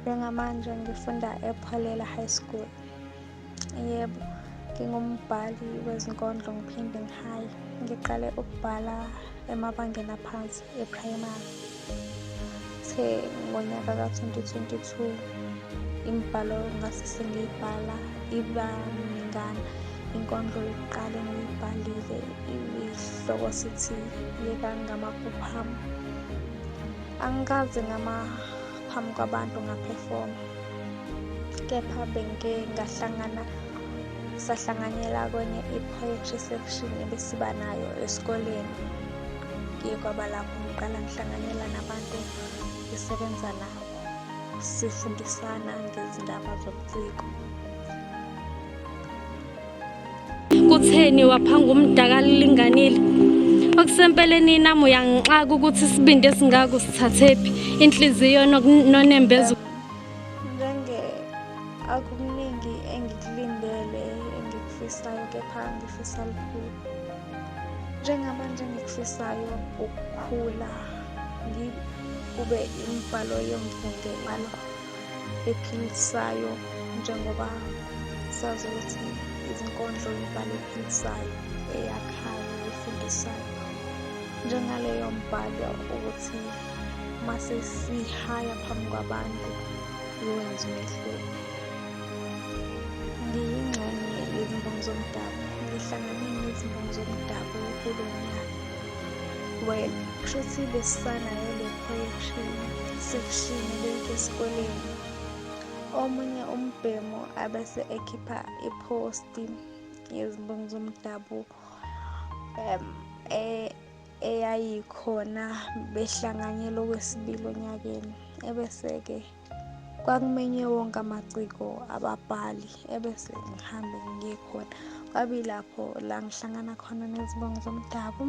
Njengamanje ngifunda ePholela High School. Yebo, ngingumbhali wezinkondlo ngiphinde ngihaye. Ngiqale ukubhala emabangeni aphansi ePrimary. Kuthe ngonyaka ka-2022 imibhalo ngase sengiyibhala iba mingana. Inkondlo yokuqala engiyibhalile ihloko sithi Yeka Ngamaphupho Ami. angikaze ngama phambi kwabantu ngaphefoma kepha bengike ngahlangana sahlanganyela kwenye i-poetry section ebesiba nayo esikoleni ngiye kwaba lapho ngiqala ngihlanganyela nabantu ngisebenza nabo sifundisana ngezindaba zobuciko kutheni waphanga umdaka lilinganile okusempeleni nami uyangixaka ukuthi isibindi esingako sithathephi inhliziyo nonembeza njenge akuningi engikulindele engikufisayo kepha ngifisa lukhulu njengamanje engikufisayo ukukhula ngikube imibhalo yomfunde imalo ephilisayo njengoba sazi ukuthi izinkondlo yibhalo ephilisayo eyakhayo efundisayo njengaleyo mbhalo ukuthi mase sihaya phambi kwabantu iwenze umehluko ngiyingxenye yezimbongi zomdabu ngihlangane nezimbongi zomdabu kulo nyaka Well, kusho ukuthi besisanayo le projection sekushini lento esikoleni. Omunye umbhemu abese ekhipha iposti yezimbongi zomdabuko um e- eyayikhona behlanganyela okwesibili onyakeni ebese-ke kwakumenywe wonke amaciko ababhali ebese ngihambe ngiye khona kwabe lapho la ngihlangana khona nezibongo zomdabu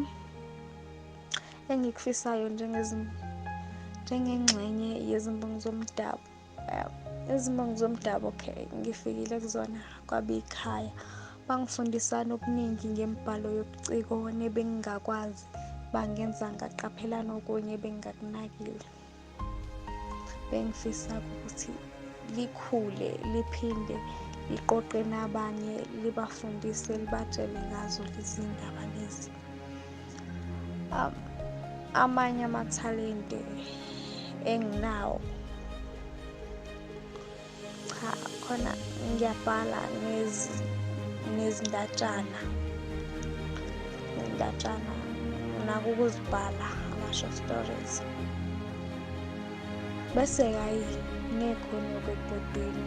engikufisayo njengengxenye yezimbongo zomdabu izimbongo zomdabu okay ngifikile kuzona kwabe ikhaya bangifundisana okuningi ngembhalo yobuciko nebengingakwazi bangenza ngaqaphelana okunye bengingakunakile bengifisa ukuthi likhule liphinde liqoqe nabanye libafundise libatshele ngazo lezi ndaba lezi um, amanye amathalente enginawo cha khona ngiyabhala ngezindatshana ngezindatshana nginako ukuzibhala ama-short stories bese hhayi ngekhona okwebhodweni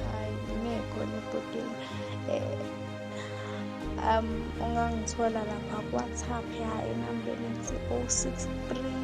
hhayi ngekhona ebhodweni um um ungangithola lapha kuwhatsapp ya enambeni ethi o six three